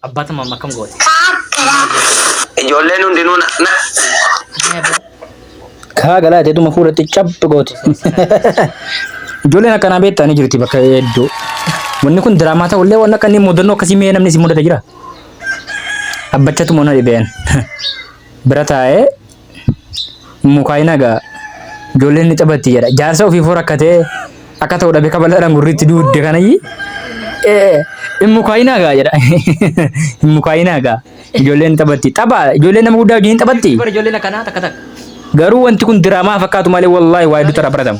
Abbaa tama amma akkam goote? Ijoolleen hundinuu na na Ee, boo. Kaa galaa jedhuma fuulatti cabbi gooti. Ijoolleen akkanaa beektaa ni jirti bakka hedduu. Wanni kun diraamaa ta'ullee waan akka inni mudannoo akkasii mee namni si mudata jira. Abbachatu mana dhibeen. Bira taa'ee mukaayina gaa ijoolleen ni taphatti jedha jaarsa ofiifuu rakkatee akka ta'u dhabe kabaladhaan gurriitti duudde kanayyi hin mukaayina gaa jedha hin mukaayina gaa ijoolleen ni taphatti tapha ijoolleen nama guddaa wajjin hin taphatti Bara ijoolleen akkanaa takka takka. garuu wanti kun diraamaa fakkaatu malee wallaahi waa hedduu irraa baratamu.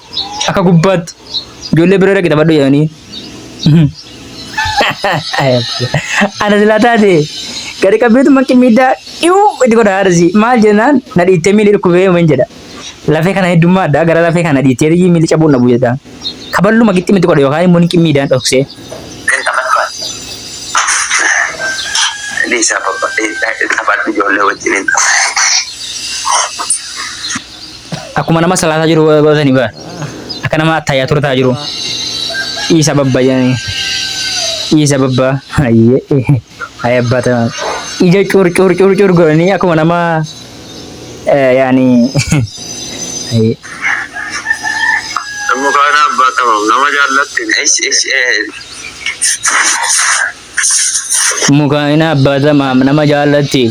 Akka gubbaatti ijoollee bira dhaqi taphadhu jedhanii. Ana silaa taate gadi qabbeetu manqi miidhaa dhiyuu itti godha haadhasi. Maal jennaan na dhiittee miilli dhukkubee uumeen jedha. Lafee kana heddummaadha gara lafee kana dhiittee miilli cabuun dhabu jedha. Kaballuma gixxi miti godha yookaan immoo niqi miidhaan dhoksee. Kan taphatu ati. Dhiisaa babba- eh, taphadhu ijoollee wajjin hin taphatu. akkuma nama salaataa jiru godhatanii bara akka nama attayyaa turtaa jiru dhiisa babba jedhanii dhiisa babba hayyee hayi abbaa ta'an ija cuur cuur cuur cuur godhanii akkuma nama eh, yaani hayyee Mukaana abbaa tamam nama jaallatte. Ish ish eh. Mukaa'ina abbaa tamaam nama jaallatti.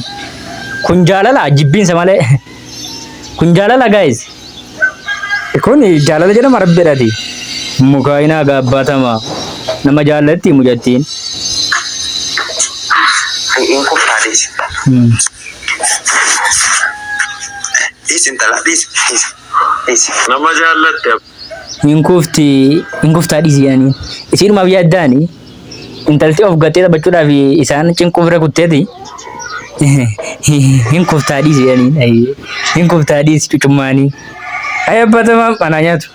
Kun jaalala jibbiinsa malee. Kun jaalala guys. Kun jaalala jedhama rabbidhati. Mukaa'ina gaa abbaa tamaam nama jaallatti mucattiin. Hin kuftaa dhiisi. Hmm. Dhiisi intala dhiisi dhiisi dhiisi. Nama jaallatti hin kufti hin kuftaa dhiisi jedhaniin. Isiidhumaaf yaaddaani intalti of gattee taphachuudhaaf isaan cinquu bira kutteeti hin kuftaa dhiisi jedhaniin. Ayyee hin kuftaa dhiisi cucummaanii. Ayya batamaam anaa nyaatu.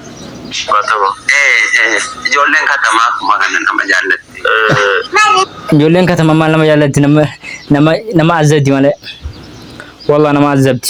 Batama. Ijoolleen katamaa akkuma kana nama jaallatti. Ijoolleen katama maal nama jaallatti nama nama nama azzabdi malee. Wallah nama azzabdi.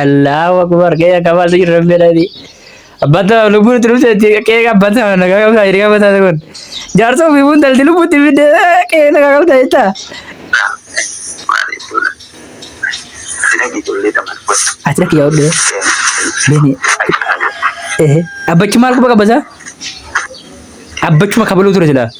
Allahu akbar kee akka baasa jirra fedhani. Abbata lubbuun itti dhufte itti kee abbata na kakabta hiriya abbata kun. Jaarsa ofii buun dalti lubbuu itti fidde kee na kakabta jetta. Ati dhaqi yaa'u dhee. Beni. Ehe. Abbachi maal quba qabasa? Abbachuma kabaluu ture silaa.